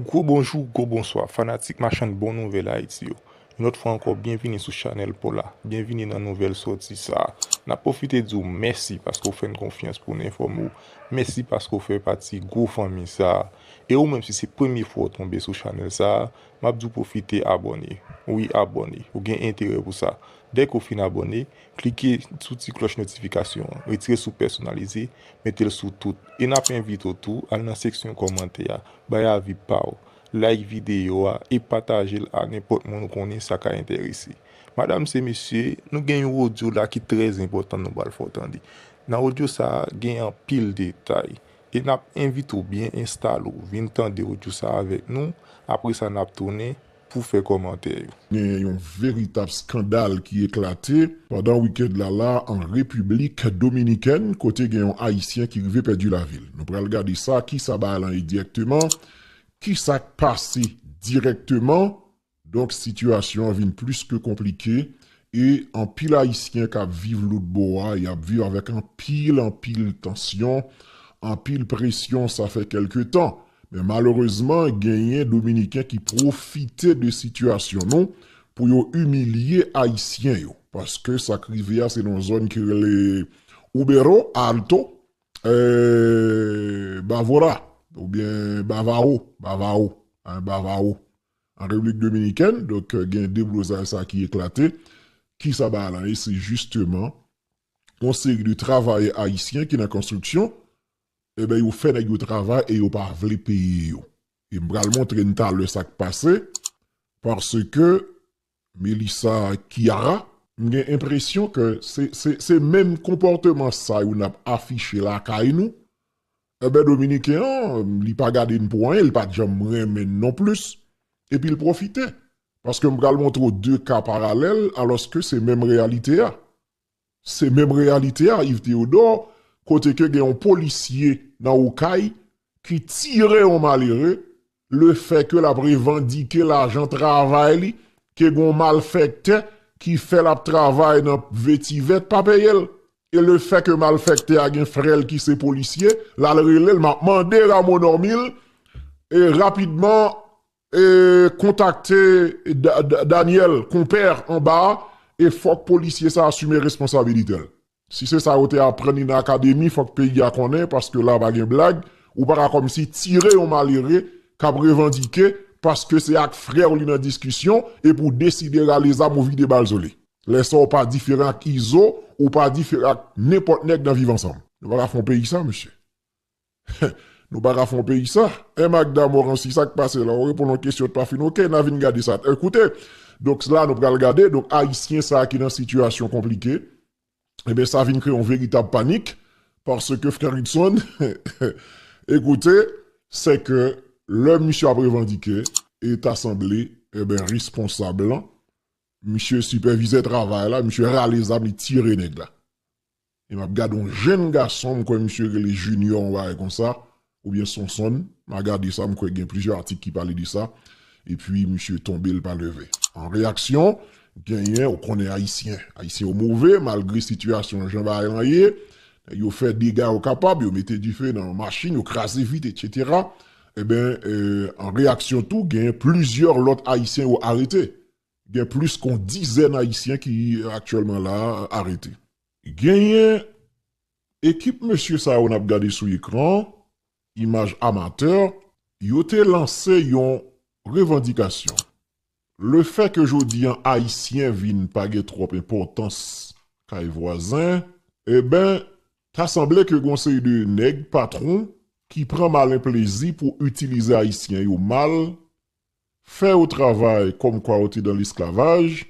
Gwo bonjou, gwo bonswa, fanatik machann bon nouvèl Ayiti yo. Yon lòt fwa ankò, byenvini sou chanèl Pola. Byenvini nan nouvèl sòti sa a. N ap pwofite di w mèsi paske w fè n konfyans pou n enfòme w. Mèsi paske w fè pati gwo fanmi sa a. E ou menm si se premye fwa w tonbe sou chanèl sa a, m ap di w pwofite abòne. Wi abòne, ou gen enterè pou sa. Dèke w fin abòne, Klike sou ti klòch notifikasyon an, retire sou pèsonalize, mete l sou tout. E n ap envite w tou al nan seksyon kòmantè a, bay avi pa w, like videyo a e pataje l a nenpòt moun ou konnen sa ka enterese. Madam se mesye, nou gen yon odyo la ki trè enpòtan nou pral fè w tande. Nan odyo sa a, gen anpil detay. E n ap envite w byen enstale w, vin tande odyo sa a avèk nou, apresa n ap tounen. pou fè kòmantè yo. Gen yon veritab skandal ki eklate pandan weekend la la an Repiblik Dominikèn kote gen yon Ayisyen ki rive pèdi lavi l. Nou pral gade sa ki sa bagay lan ye direkteman, ki sa k pase direkteman. Donk sitiyasyon an vin plis ke konplike e anpil Ayisyen k ap viv lôt bò a y ap viv avèk anpil anpil tansyon, anpil presyon sa fè kèlke tan. Men malerezman genyen dominiken ki pwofite de sitiyasyon nou pou yo imilye ayisyen yo. Paske sa k rive a se nan zòn ki rele Ubero Alto e Bavora oubyen Bavaro, Bavaro, hein, Bavaro, an Repiblik Dominikèn. Donk gen deblozay sa ki eklate. Ki sa bagay lan ye? Se jisteman yon seri de travayè ayisyen ki nan konstriksyon Eben yo fè nèg yo travay e yo pa vle peye yo. E m pral montre n talè sa k pase paske Melissa ak Kiara m gen enpresyon ke se menm konpòteman sa yo n ap afiche lakay nou. Eben Dominiken an li pa gade n pou anyen, li pa janm renmen n non plis epi l pwofite paske m pral montre w de ka paralèl alòske se menm reyalite a. Se menm reyalite a Yves Théodore kote ke gen yon polisye nan Okay ki tire yon malere le fè ke lap revandike lajan travay li ke gon malfèktè ki fè lap travay nan vetivè pa peye l e le fè ke malfèktè a gen frè l ki se polisye lal rele l map mande Rameau Normil e rapidman Kontakte Daniel Compère anba a e fòk polisye sa asime responsabilite l. Si se sa yo te aprann li nan akademi fòk peyi a konnen paske la pa gen blag, ou pa ka kòmsi tire yon malere k ap revandike paske se ak frè w li nan diskisyon epi w deside rale zam ou vide bal sou li. Lè sa w pa diferan ak Izo, ou pa diferan ak nenpòt nèg nan viv ansanm. Nou pa ka fè yon peyi sa mesye. Hum Nou paka fon peyi sa. Eh Magda Morancy sak pase la ou reponn yon kesyon t pa fin ok na vin gade sa eh koute donk la nou pral gade donk ayisyen sa ki nan sitiyasyon konplike ebyen sa vin kreye yon veritab panik paske frè Rickson eh ekoute se ke lè misye ap revandike e ta sanble ebyen responsab lan misye sipèvizè travay la misye rale zam li tire nèg la. e map gade yon jenn gason m kwè misye rele Junior yon bagay konsa oubyen Sonsonn ma gade sa m kwè gen plizyè atik ki pale de sa epi misye tonbe l pa leve an reyaksyon genyen ou konnen ayisyen ayisyen yo move malgre sitiyasyon jan bagay lan ye nèg yo fè dega yo kapab yo mete dife nan machin yo kraze vit etc enben an reyaksyon tou genyen plizyè lòt ayisyen yo arete Gen plis kon dizèn ayisyen ki aktyèlman la a arete. Genyen ekip mesye sa yo n ap gade sou ekran an, imaj amatè, yo te lanse yon revandikasyon. Le fè ke jodi an ayisyen vin pa gen twòp enpòtans kay vwazen, enben ta sanble ke gen yon seri de nèg patwon ki pran malen plezi pou itilize ayisyen yo mal Fè yo travay kòm kwa yo te dan lesklavaj,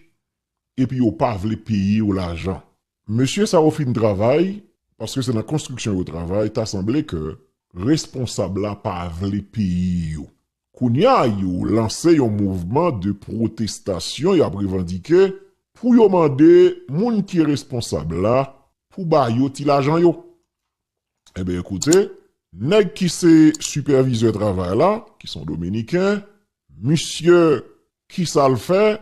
epi yo pa vle peye yo lajan. Mesye sa yo fin travay, paske se nan konstriksyon yo travay, ta sanble ke responsab la pa vle peye yo. Kounya yo lanse yon mouvman de pwotestasyon y ap revandike pou yo mande moun ki responsab la pou ba yo ti lajan yo. Enben koute, nèg ki se sipèvizè travay la, ki son dominiken, misye ki sa l fè,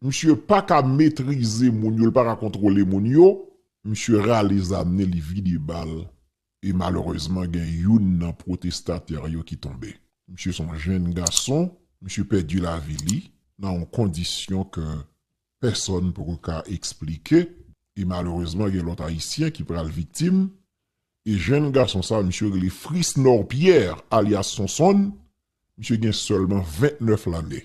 misye pa ka metrize moun yo, l pa ka kontwole moun yo, misye rale zam ni li vide bal e malerezman gen youn nan pwotestatè yo ki tonbe. Misye son jenn gason, misye pèdi lavi li nan yon kondisyon ke pèsòn poko ka eksplike e malerezman gen lòt ayisyen ki pral viktim e jenn gason sa misye rele Frisnor Pierre alyas Sonsonn misye gen sèlman 29 lane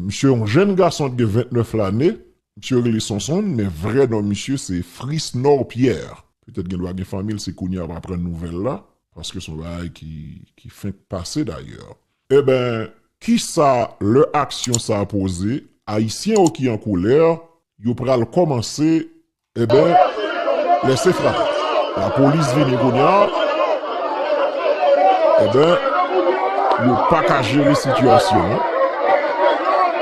misye yon jenn gason ki gen 29 lane misye rele Sonsonn men vrè non misye se Frisnor Pierre petèt gendwa gen fanmi l se kounye a wap aprann nouvèl la paske son bagay ki fenk pase dayè Eben, kisa lè aksyon sa poze, Ayisyen yo ki an kolè, yo pral kòmanse, eben, lèse frape. Lapolis vini kounye a, eben, yo pa ka jere sitiyasyon an.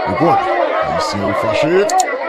Ou konn, Ayisyen yo fache.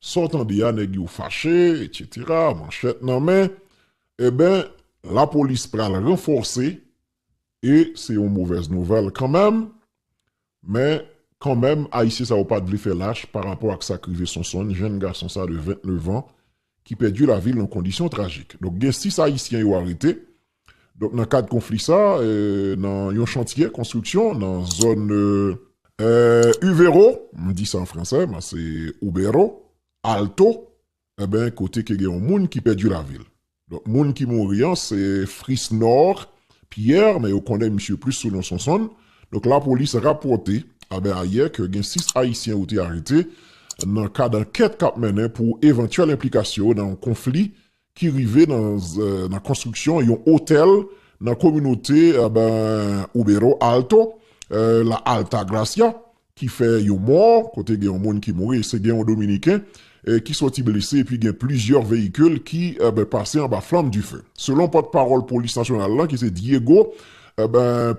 Sa w tande a nèg yo fache etc manchèt nan men eben lapolis pral ranfòse e se yon movèz nouvèl kanmenm men kanmenm ayisyen sa yo pat vle fè lach pa rapò ak sak rive Sonsonn jenn gason sa de 29 an ki pèdi lavi l nan kondisyon trajik donk gen 6 ayisyen yo arete. Donk nan kad konfli sa, nan yon chantye konstriksyon nan zòn Uvero, m di sa an fransè men se Ubero, Alto, enben kote ke gen yon moun ki pèdi lavi l. Donk moun ki mouri an se Frisnord Pierre men yo konnen misye plis sou non Sonsonn. Donk lapolis rapòte anben ayè ke gen 6 ayisyen yo te arete nan kad ankèt k ap mennen pou evantyèl enplikasyon yo nan yon konfli ki rive nan konstriksyon yon otèl nan kominote Ubero Alto, La Altagracia, ki fè yon mò, kote gen yon moun ki mouri, se gen yon dominiken ki sòti blese epi gen plizyè veyikil ki pase anba flanm dife. Selon pòtpawòl polis nasyonal lan ki se Diego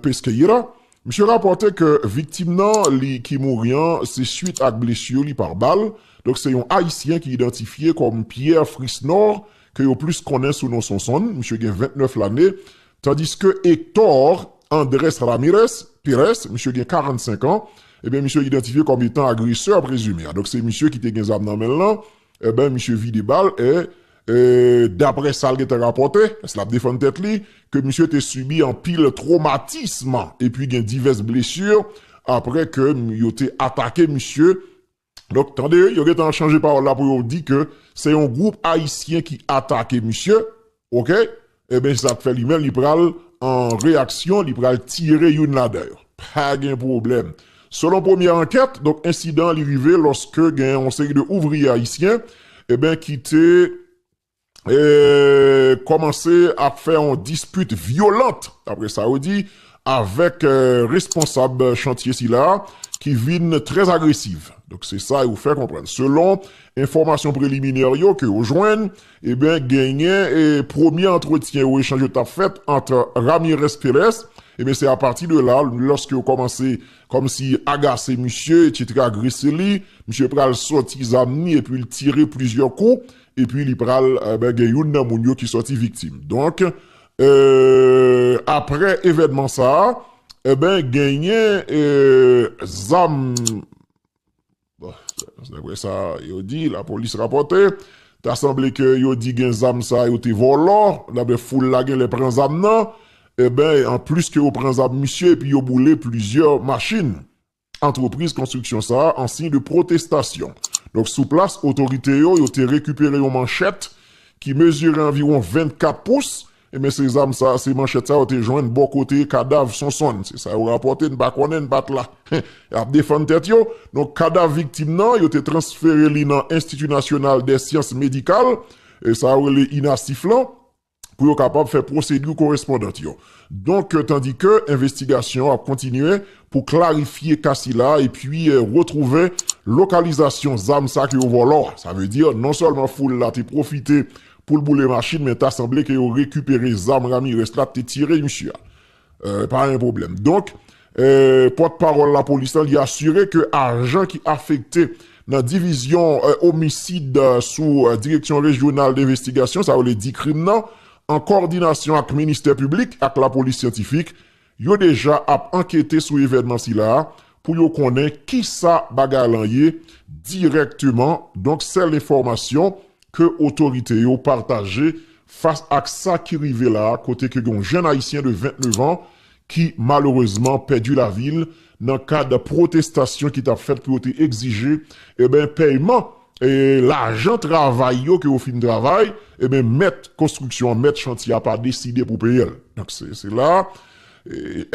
Pesqueira, Misye rapòte ke viktim nan li ki mouri an se swit ak blesur li par bal, donk se yon Ayisyen ki idantifye kòm Pierre Frisnor ke yo plis konnen sou non Sonsonn, misye gen 29 lane, tandiske Hector Andres Ramirez, Perez, misye gen 45 an, eben misye idantifye kòm etan agresè prezime a, donk se misye ki te gen zam nan men l lan, eben misye vide bal e. Daprè sa l gentan rapòte, paske l ap defann tèt li, ke misye te sibi anpil twomatism epi gen divès blesi aprè ke yo te atake misye. Donk, tande, yo gentan chanje pawòl la pou yo di ke se yon gwoup ayisyen ki atake misye. Ok! Eben se sak fè li menm li pral an reyaksyon li pral tire youn ladan yo. Pa gen pwoblèm. Selon premyè ankèt, donk ensidan an li rive lòske gen yon seri de ouvriye ayisyen eben ki te kòmanse ap fè yon dispit vyolant, daprè sa yo di, avèk responsab chantye sila ki vin trè agresiv. Donk se sa yo fè konprann selon enfòmasyon preliminè yo ke yo jwenn. Eben genyen e premye antretyen yo echanj yo tap fèt ant Ramirez Perez eben se apati de la lòske yo kòmanse kòmsi agase misye etc agrese li misye pral sòti zam ni epi li tire plizyè kou epi li pral eben gen youn nan moun yo ki sòti viktim donk eee aprè evènman sa eben genyen ee zam. Daprè sa yo di, lapolis rapòte, ta sanble ke yo di gen zam sa yo te vòlò, daprè foul la genlè pran zam nan, enben an plis ke yo pran zam misye epi yo boule plizyè machin antrepriz konstriksyon sa an siy de pwotestasyon. Donk sou plas otorite yo, yo te rekipere yon manchèt ki mezire anviwon 24 pous Ebyen se zam sa, se manchèt sa yo te jwenn bò kote kadav Sonsonn. Se sa yo rapòte, n pa konnen, n pa t la. Y ap defann tèt yo. Donk kadav viktim nan, yo te transfere li nan Enstiti Nasyonal dè Syans Medikal, sa yo rele INASIF lan, pou yo kapab fè pwosedi korespondant yo. Donk tandike envestigasyon ap kontinye pou klarifye ka sila epi retwouve lokalizasyon zam sa ke yo vòlò a. Sa vle di non sèlman foul la te pwofite Poul boule machin men ta sanble ke yo rekipere zam Ramirez la te tire misye a. Pa gen pwoblèm. Donk, pòt pawòl lapolis la li asire ke ajan ki afekte nan divizyon omisid sou direksyon rejyonal denvestigasyon sa yo rele dikrim nan an kòdinasyon ak ministè piblik ak lapolis syantifik Yo deja ap ankete sou evènman sila a pou yo konnen kisa bagay lan ye dirèkteman, donk sèl enfòmasyon ke otorite yo pataje fas ak sa ki rive la kote ke gen yon jenn ayisyen de 29 an ki malerezman pèdi lavi l nan kad pwotestasyon ki t ap fèt pou yo te egzije eben pèyman lajan travay yo ke yo fin travay eben mèt konstriksyon an mèt chantye a pa deside pou peye l donk se la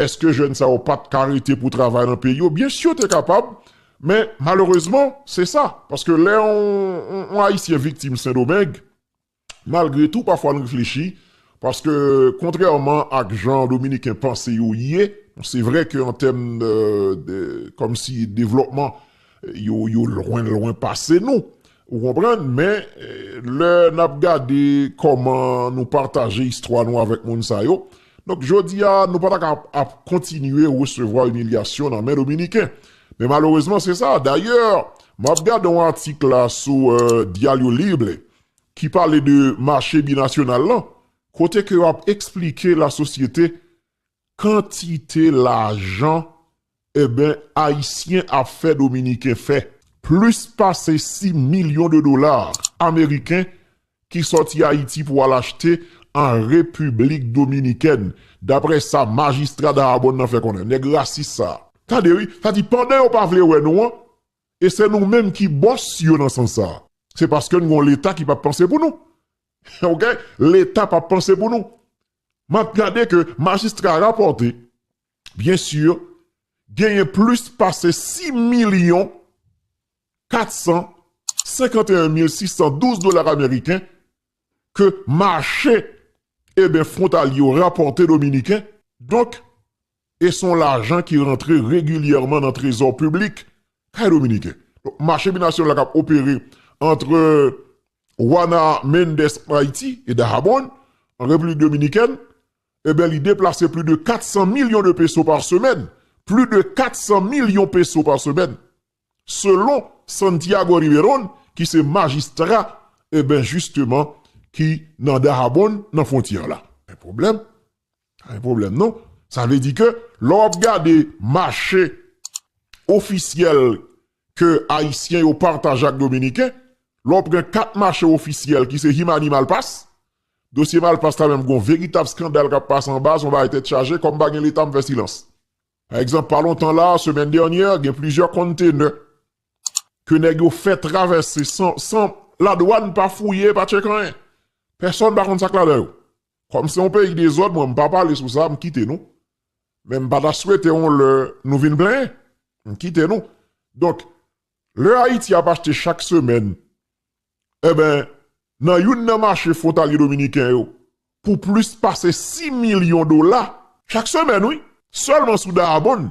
èske jèn sa yo pa t ka rete pou travay nan peyi yo byensi yo te kapab men malerezman se sa paske lè yon ayisyen viktim sendomeng Malgre tou pafwa n reflechi, paske kontrèman ak jan dominiken panse yo ye, bon se vre ke an tèm de kòmsi devlòpman yo lwen lwen pase nou, ou konprann, men lè n ap gade kòman nou pataje istwa nou avèk moun sa yo, donk jodi a nou pa ta ka ap kontinye resevwa imilyasyon nan men dominiken. Men malerezman se sa, dayè m ap gade yon atik la sou Diario Libre, ki pale de mache binasyonal lan, kote ke yo ap eksplike lasosyete kantite lajan eben ayisyen ap fè dominiken fè. Plis pase 6 milyon de dola ameriken ki sòti Ayiti pou al achte an Repiblik Dominikèn, dapre sa majistra Dahabon nan fè konnen. Nèg rasis sa. Tande wi, sa di pandan yo pa vle wè nou an, E se nou menm ki bòs yo nan sans sa. Se paske n gen yon leta ki pap panse pou nou. Ok leta pap panse pou nou. Map gade ke majistra rapòte byen sur genyen plis pase 6 milyon 451 mil 612 dolar ameriken ke mache eben fwontalye yo rapòte dominiken. Donk E se yon lajan ki rantre regilyèman nan trezò piblik kay dominiken. Donk mache binasyonal la k ap opere antre Juana Méndez an Ayiti e Dajabón an Repiblik Dominikèn, enben li deplase pli de 400 milyon de peso pa semèn, pli de 400 milyon peso pa semèn, selon Santiago Riverón ki se majistra, enben jisteman ki nan Dajabón, nan fwontyè la. Men pwoblèm, Pa gen pwoblèm non. Sa vle di ke lè w ap gade mache ofisyèl ke Ayisyen yo pataje ak Dominiken, lè w pran kat mache ofisyèl ki se Himani Malpas, dosye Malpas la menm gen yon veritab skandal k ap pase anba, se yon bagay tèt chaje, kòm pa gen Leta m fè silans. Pa egzanp, pa lontan la a, semèn dènyè, gen plizyè konntenè ke nèg yo fè travèse san ladwàn pa fouye, pa tcheke anyen. Pèsòn pa konn sa k ladan yo. Kòm se yon peyi dezòd mwen m pa pale sou sa m kite nou men m pa ta swete yon lè nou vin plenyen m kite nou donk lè Ayiti ap achte chak semèn enben nan youn nan mache fwontalye dominiken yo pou plis pase 6 milyon dola chak semèn wi sèlman sou Dayabonn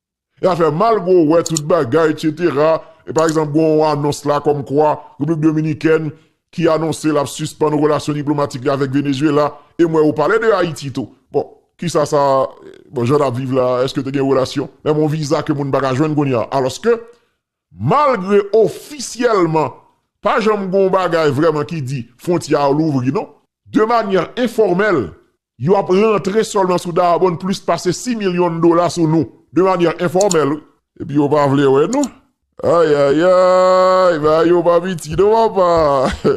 Ya fè mal gwo wè tout bagay etc. E pa egzanp gwo yon anons la kòm kwa Repiblik Dominikèn ki anonse lap sispann relasyon diplomatik li avèk Venezuela e m wè yo pale de Ayiti tou. Bon kisa sa bon jan nap viv la eske te gen relasyon menm yon viza ke moun paka jwenn kounye a alòske malgre ofisyèlman pa janm gwo yon bagay vrèman ki di fwontyè a louvri non. De manyè enfòmèl Yo ap rantre sèlman sou Dayabonn plis pase 6 milyon dola sou nou, de manyè enfòmèl wi. Epi yo pa vle wè nou. Ayayayy! Bagay yo pa piti non papa!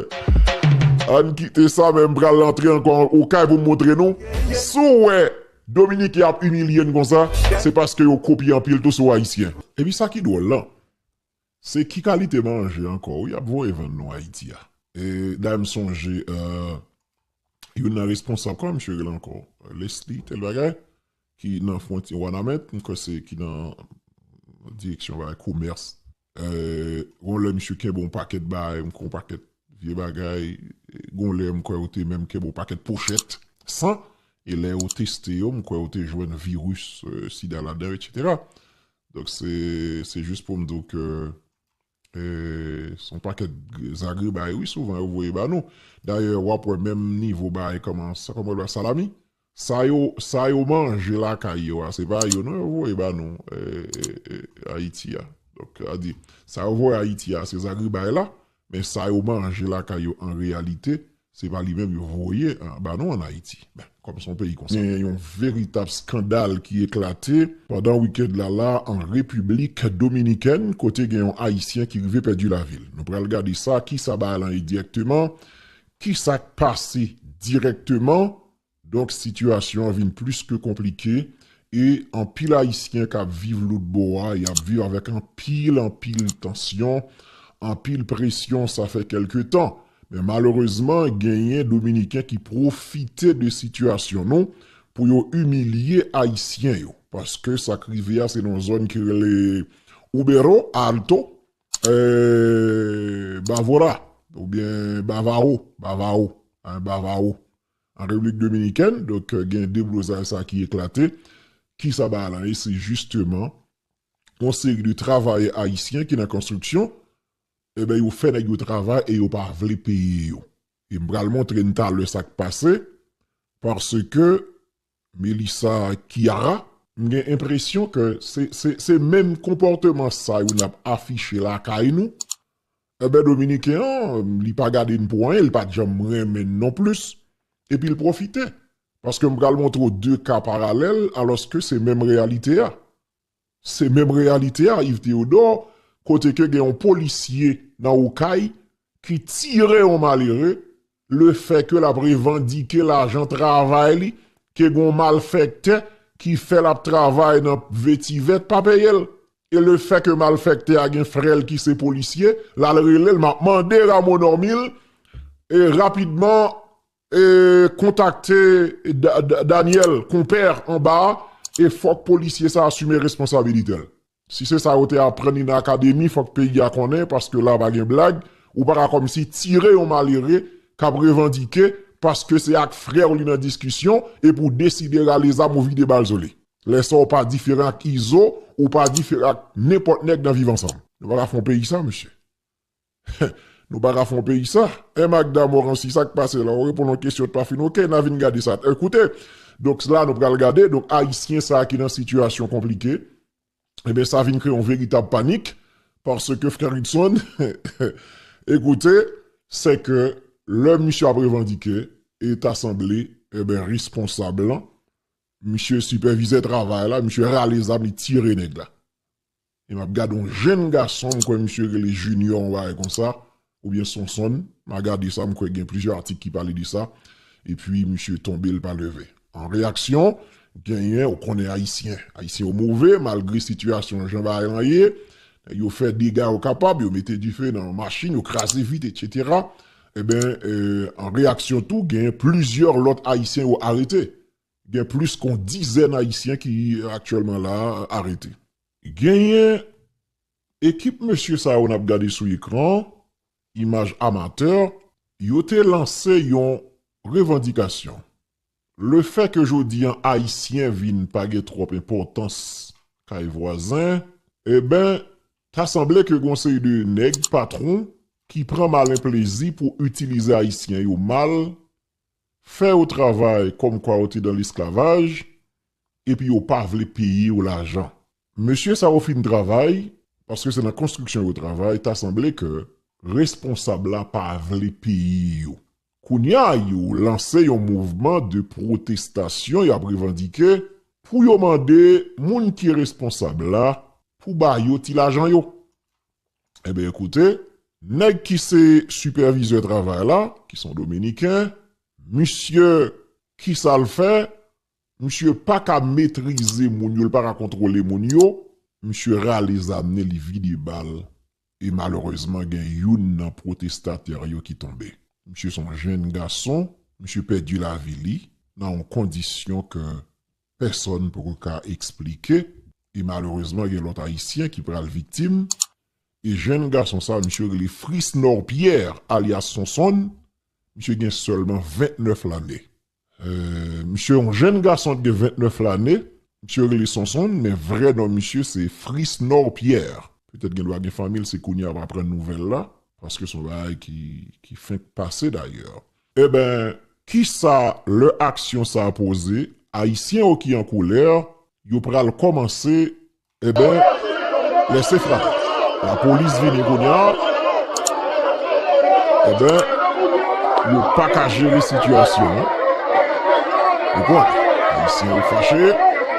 Ann kite sa men m pral antre ankò okay pou m montre nou. Si w wè Dominiken ap imilye n konsa, se paske yo kopye anpil tou sou Ayisyen. Epi sa ki dwòl lan, Se ki kalite manje ankò wi yap voye vann nou ayiti a. Dayè m sonje youn nan responsab kòman misye rele ankò Lesly tèl bagay ki nan fwontyè wanament m kwè se ki nan direksyon bagay komès gon lè misye kenbe yon pakèt bagay m kwè yon pakèt vye bagay gon lè m kwè yo te menm kenbe yon pakèt pochèt san e lè yo teste yo m kwè yo te jwenn viris sida ladan yo etc. Donk se se jis poum di w ke e se yon pakèt zagrebay wi souvan yo voye ba nou. Dayè wap wè menm nivo bay kòman sa kòman yo rele a salami sa yo sa yo manje lakay yo a se pa yo non yo voye ba nou e e e Ayiti a. Donk sa di sa yo voye Ayiti a se zagrebay la Men sa yo manje lakay yo an reyalite, se pa li menm yo voye ba nou an Ayiti. Men, kòm se yon peyi konsa. Gen yon veritab skandal ki eklate pandan wikend la la an Repiblik Dominikèn kote gen yon Ayisyen ki rive pèdi lavi l. Nou pral gade sa, kisa bagay lan ye dirèkteman, kisa k pase dirèkteman Donk sitiyasyon an vin plis ke konplike e anpil ayisyen k ap viv lòt bò a, y ap viv avèk anpil anpil tansyon, anpil presyon sa fè kèlke tan. Men malerezman genyen dominiken ki pwofite de sitiyasyon nou pou yo imilye ayisyen yo paske sa k rive a se nan yon zòn ki rele Ubero Alto e Bavora oubyen Bavaro, Bavaro, Bavaro. An Repiblik Dominikèn, donk gen deblozay sa ki eklate. Kisa bagay lan ye? Se jisteman yon seri de travayè ayisyen ki nan konstriksyon, eben yo fè nèg yo travay e yo pa vle peye yo. E m pral montre n talè sa k pase, paske Melissa ak Kiara. M gen enpresyon ke se menm konpòteman sa yo nap afiche lakay nou, enben dominiken an li pa gade n pou anyen li pat janm renmen n non plis epi l pwofite paske m pral montre w 2 ka paralèl alòske se menm reyalite a. Se menm reyalite a Yves Théodore kote ke gen yon polisye nan Okay ki tire yon malere le fè ke lap revandike lajan travay li ke gen yon malfèktè ki fè lap travay nan vetivè pa peye l e le fè ke malfèktè a gen frè l ki se polisye lal rele l map mande Rameau Normil e rapidman Kontakte Daniel Compère anba a e fòk polisye sa asime responsabilite l. Si se sa yo te aprann li nan akademi fòk peyi a konnen paske la pa gen blag, ou pa ka kòmsi tire yon malere k ap revandike paske se ak frè w li nan diskisyon epi w deside rale zam ou vide bal sou li. Lè sa w pa diferan ak Izo, ou pa diferan ak nenpòt nèg nan Viv Ansanm. Nou pa ka fè yon peyi sa mesye. Heh nou paka fon peyi sa. Eh Magda Morancy sak pase la ou reponn yon kesyon t pa fin ok na vin gade sa eh koute donk la nou pral gade donk ayisyen sa ki nan sitiyasyon konplike ebyen sa vin kreye yon veritab panik paske frè Rickson eh ekoute se ke lè misye ap revandike e ta sanble ebyen responsab lan misye sipèvizè travay la misye rale zam li tire nèg la. e map gade yon jenn gason m kwè misye rele Junior yon bagay konsa oubyen Sonsonn ma gade sa m kwè gen plizyè atik ki pale de sa epi misye tonbe l pa leve. An reyaksyon genyen ou konnen ayisyen ayisyen yo move malgre sitiyasyon jan bagay lan ye nèg yo fè dega yo kapab yo mete dife nan machin yo kraze vit etc enben an reyaksyon tou genyen plizyè lòt ayisyen yo arete Gen plis ke yon dizèn Ayisyen ki aktyèlman la a arete. Genyen ekip mesye sa yo n ap gade sou ekran an, imaj amatè, yo te lanse yon revandikasyon. Lefè ke jodi an Ayisyen vin pa gen twòp enpòtans kay vwazen, enben, ta sanble ke gen yon seri de nèg patwon ki pran malen plezi pou itilize Ayisyen yo mal Fè yo travay kòm kwa yo te dan lesklavaj, epi yo pa vle peye yo lajan. Mesye sa yo fin travay, paske se nan konstriksyon yo travay, ta sanble ke responsab la pa vle peye yo. Kounya yo lanse yon mouvman de pwotestasyon y ap revandike pou yo mande moun ki responsab la pou ba yo ti lajan yo. Enben koute, nèg ki se sipèvizè travay la, ki son dominiken, misye ki sa l fè, misye pa ka metrize moun yo, l pa ka kontwole moun yo, misye rale zam ni li vide bal e malerezman gen youn nan pwotestatè yo ki tonbe. Misye son jenn gason, misye pèdi lavi li nan yon kondisyon ke pèsòn poko ka eksplike e malerezman gen lòt ayisyen ki pral viktim e jenn gason sa misye rele Frisnor Pierre alyas Sonsonn misye gen sèlman 29 lane misye yon jenn gason ki gen 29 lane misye rele Sonsonn men vrè non misye se Frisnor Pierre petèt gendwa gen fanmi l se kounye a wap aprann nouvèl la paske son bagay ki fenk pase dayè Eben, kisa lè aksyon sa poze, Ayisyen yo ki an kolè, yo pral kòmanse, eben, lèse frape. Lapolis vini kounya, eben, yo pa ka jere sitiyasyon an. Ou konn, Ayisyen yo fache.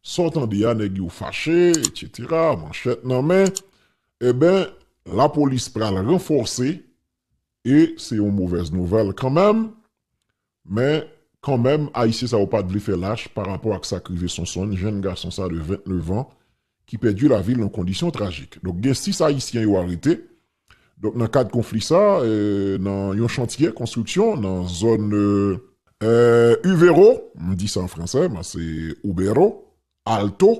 Sa w tande a nèg yo fache etc manchèt nan men eben lapolis pral ranfòse e se yon movèz nouvèl kanmenm men kanmenm ayisyen sa yo pat vle fè lach pa rapò ak sak rive Sonsonn jenn gason sa de 29 an ki pèdi lavi l nan kondisyon trajik donk gen 6 ayisyen yo arete Donk nan kad konfli sa, nan yon chantye konstriksyon nan zòn Uvero, m di sa an fransè men se Ubero, Alto,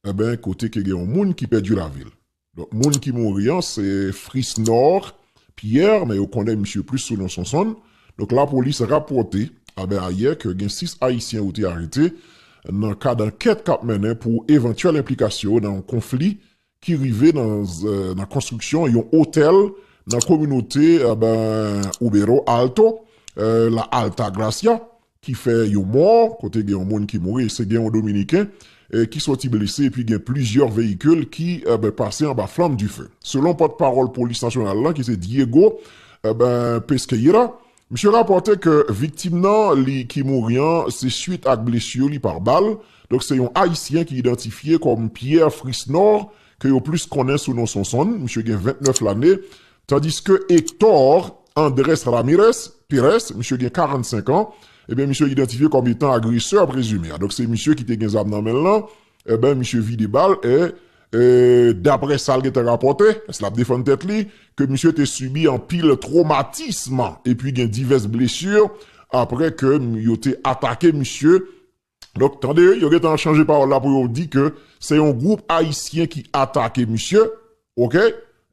enben kote ke gen yon moun ki pèdi lavi l. Donk moun ki mouri an se Frisnor Pierre men yo konnen misye plis sou non Sonsonn. Donk lapolis rapòte anben ayè ke gen 6 ayisyen yo te arete nan kad ankèt k ap mennen pou evantyèl enplikasyon yo nan yon konfli ki rive nan konstriksyon yon otèl nan kominote Ubero Alto, La Altagracia, ki fè yon mò, kote gen yon moun ki mouri, se gen yon dominiken ki sòti blese epi gen plizyè veyikil ki pase anba flanm dife. Selon pòtpawòl polis nasyonal lan ki se Diego Pesqueira, Misye rapòte ke viktim nan li ki mouri an se swit ak blesur li par bal, donk se yon Ayisyen ki idantifye kòm Pierre Frisnor ke yo plis konnen sou non Sonsonn, misye gen 29 lane, tandiske Hector Andres Ramirez, Perez, misye gen 45 an, eben misye idantifye kòm etan agresè prezime a, donk se misye ki te gen zam nan men l lan, eben misye vide bal e Daprè sa l gentan rapòte, paske l ap defann tèt li, ke misye te sibi anpil twomatism epi gen divès blesi aprè ke yo te atake misye. Donk, tande, yo gentan chanje pawòl la pou yo di ke se yon gwoup ayisyen ki atake misye. Ok!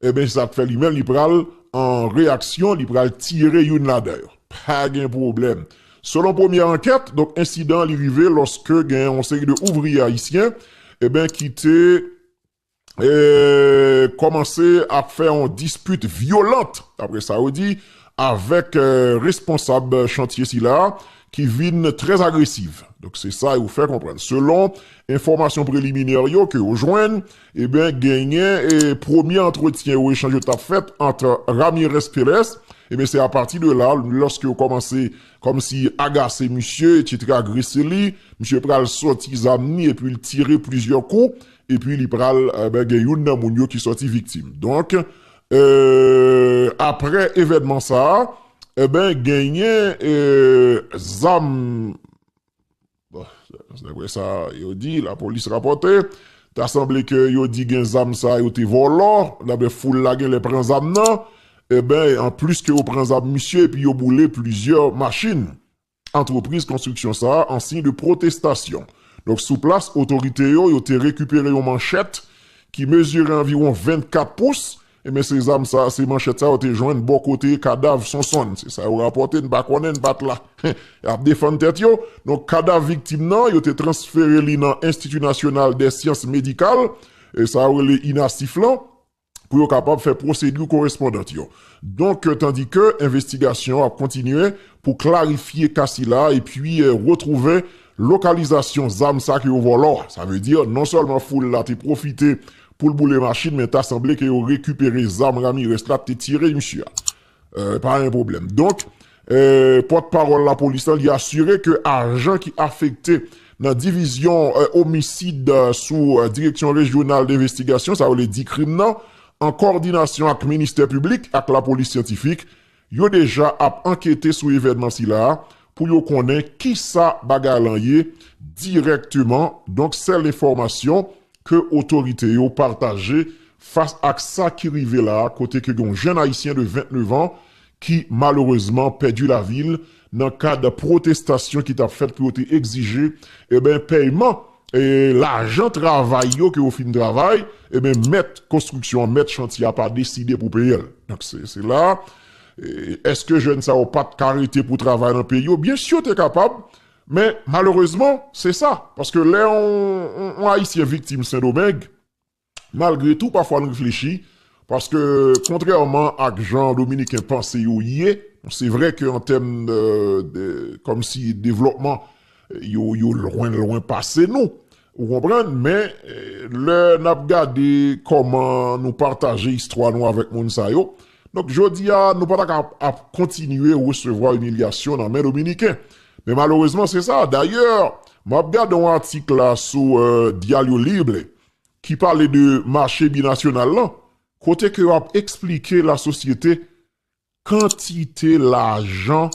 Eben se sak fè li menm li pral an reyaksyon li pral tire youn ladan yo. Pa gen pwoblèm. Selon premyè ankèt, donk ensidan an li rive lòske gen yon seri de ouvriye ayisyen eben ki te kòmanse ap fè yon dispit vyolant, daprè sa yo di, avèk responsab chantye sila ki vin trè agresiv. Donk se sa yo fè konprann selon enfòmasyon preliminè yo ke yo jwenn. Eben genyen e premye antretyen yo echanj yo tap fèt ant Ramirez Perez eben se apati de la lòske yo kòmanse kòmsi agase misye etc agrese li misye pral sòti zam ni epi li tire plizyè kou epi li pral eben gen youn nan moun yo ki sòti viktim donk eee aprè evènman sa eben genyen ee zam. Daprè sa yo di, lapolis rapòte, ta sanble ke yo di gen zam sa yo te vòlò, daprè foul la genlè pran zam nan, enben an plis ke yo pran zam misye epi yo boule plizyè machin antrepriz konstriksyon sa an siy de pwotestasyon. Donk sou plas otorite yo, yo te rekipere yon manchèt ki mezire anviwon 24 pous, Enben se zam sa, se manchèt sa yo te jwenn bò kote kadav Sonsonn. Se sa yo rapòte, n pa konnen, n pa t la. Y ap defann tèt yo. Donk kadav viktim nan, yo te transfere li nan Enstiti Nasyonal dè Syans Medikal, sa yo rele INASIF lan, pou yo kapab fè pwosedi korespondant yo. Donk tandike envestigasyon an ap kontinye pou klarifye ka sila epi retwouve lokalizasyon zam sa ke yo vòlò a. Sa vle di non sèlman foul la te pwofite Poul boule machin men ta sanble ke yo rekipere zam Ramirez la te tire misye a. Pa gen pwoblèm. Donk, pòt pawòl lapolis la li asire ke ajan ki afekte nan divizyon omisid sou direksyon rejyonal denvestigasyon sa yo rele dikrim nan an kòdinasyon ak ministè piblik ak lapolis syantifik Yo deja ap ankete sou evènman sila a pou yo konnen kisa bagay lan ye dirèkteman, donk sèl enfòmasyon ke otorite yo pataje fas ak sa ki rive la kote ke gen yon jenn ayisyen de 29 an ki malerezman pèdi lavi l nan kad pwotestasyon ki t ap fèt pou yo te egzije eben pèyman lajan travay yo ke yo fin travay eben mèt konstriksyon an mèt chantye a pa deside pou peye l donk se la èske jèn sa yo pa t ka rete pou travay nan peyi yo byensi yo te kapab men malerezman se sa paske lè yon ayisyen viktim sendomeng Malgre tou pafwa n reflechi, paske kontrèman ak jan dominiken panse yo ye, se vre ke an tèm de, kòmsi devlòpman, yo lwen lwen pase nou, ou konprann, men lè n ap gade kòman nou pataje istwa nou avèk moun sa yo, donk jodi a nou pa ta ka ap kontinye resevwa imilyasyon nan men dominiken. Men malerezman se sa, dayè m ap gade yon atik la sou Diario Libre, ki pale de mache binasyonal lan, kote ke yo ap eksplike lasosyete kantite lajan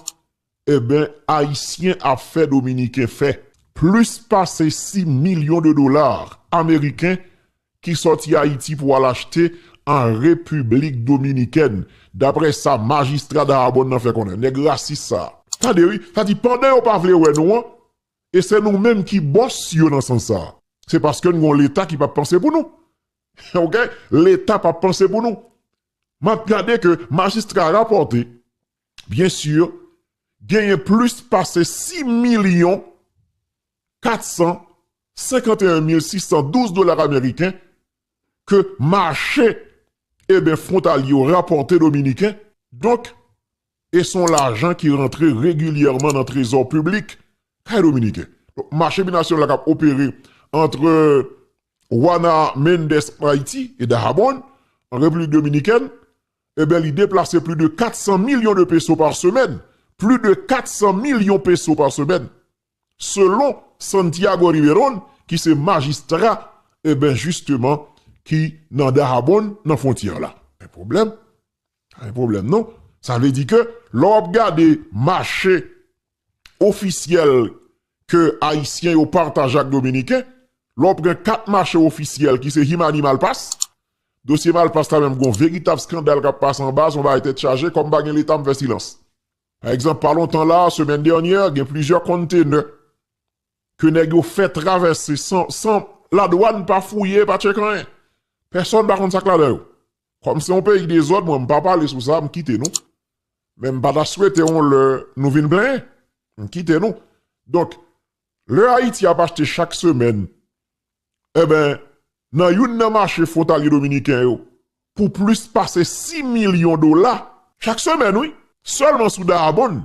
eben ayisyen ap fè dominiken fè. Plis pase 6 milyon de dola ameriken ki sòti Ayiti pou al achte an Repiblik Dominikèn, dapre sa majistra Dahabòn nan fè konnen. Nèg rasis sa. Tande wi, sa di pandan yo pa vle wè nou an, E se nou menm ki bòs yo nan sans sa. Se paske n gen yon leta ki pap panse pou nou. Ok. Leta pap panse pou nou. M ap gade ke majistra rapòte, byen si, genyen plis pase 6 milyon 451 mil 612 dola ameriken ke mache e ben fwontalye yo rapòte dominiken. Donk, E son lajan ki rantre regilyèman nan trezò piblik kay dominiken. Donk mache binasyonal la kap opere antre Juana Méndez an Ayiti e Dajabón an Repiblik Dominikèn, eben li deplase pli de 400 milyon de peso pa semèn, pli de 400 milyon peso pa semèn, selon Santiago Riverón ki se majistra eben jisteman ki nan Dajabón nan fwontyè la. Men pwoblèm Pa gen pwoblèm non. Sa vle di ke lè w ap gade mache ofisyèl ke Ayisyen yo pataje ak Dominiken, lè w pran kat mache ofisyèl ki se Himani Malpas, dosye Malpas la menm gen yon veritab skandal k ap pase anba, se yon bagay tèt chaje, kòm pa gen Leta m fè silans. Pa egzanp, pa lontan la a, semèn dènyè, gen plizyè konntenè ke nèg yo fè travèse san ladwàn pa fouye, pa tcheke anyen. Pèsòn pa konn sa k ladan yo. Kòm se yon peyi dezòd mwen m pa pale sou sa m kite nou men m pa ta swete yon lè nou vin plenyen m kite nou donk lè Ayiti ap achte chak semèn enben nan youn nan mache fwontalye dominiken yo pou plis pase 6 milyon dola chak semèn wi sèlman sou Dayabonn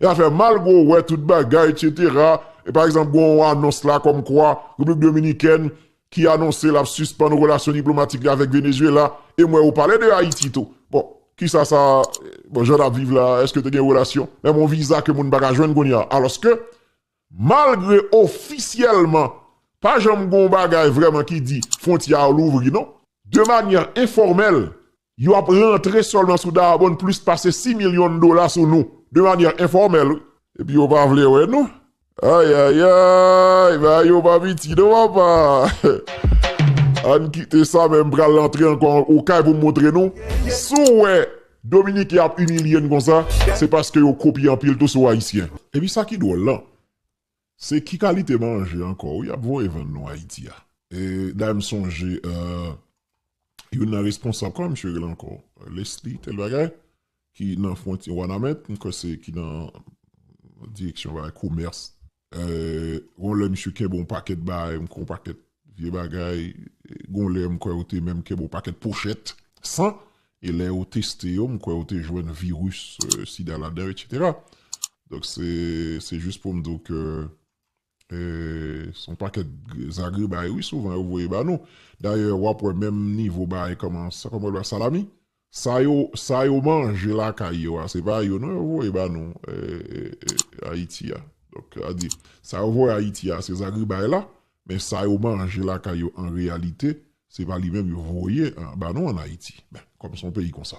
E afè malgre w wè tout bagay etc. E pa egzanp gen yon anons la kòm kwa Repiblik Dominikèn ki anonse lap sispann relasyon diplomatik li avèk Venezuela e m wè ou pale de Ayiti tou. Bon kisa sa bon jan nap viv la eske te gen relasyon menm yon viza ke moun pa ka jwenn kounye a alòske malgre ofisyèlman pa janm gen yon bagay vrèman ki di fwontyè a louvri non. De manyè enfòmèl Yo ap rantre sèlman sou Dayabonn plis pase 6 milyon dola sou nou, de manyè enfòmèl wi. Epi yo pa vle wè nou. Ayayayy! Bagay yo pa piti non papa! Ann kite sa men m pral antre ankò okay pou m montre nou. Si w wè Dominiken ap imilye n konsa, se paske yo kopye anpil tou sou Ayisyen. Epi sa ki dwòl lan, Se ki kalite manje ankò wi yap voye vann nou ayiti a. Dayè m sonje youn nan responsab kòman misye rele ankò Lesly tèl bagay ki nan fwontyè wanament m kwè se ki nan direksyon bagay komès gon lè misye kenbe yon pakèt bagay m kwè yon pakèt Vye bagay, gon lè m kwè ou te menm kèb on pakèt pochèt san, e lè yo teste yo m kwè ou te jwenn viris sida ladan etc. Donk se se jis pou m di w ke e se on pakèt zagrebay wi souvan yo voye ba nou. Dayè w ap wè menm nivo bagay kòman sa kòman w rele a salami? Sa yo sa yo manje lakay yo a se pa yo non yo voye ba nou Ayiti a donk sa di sa yo voye Ayiti a se zagribay la men sa yo manje lakay yo an reyalite se pa li menm yo voye ba nou an Ayiti men kòm se yon peyi konsa.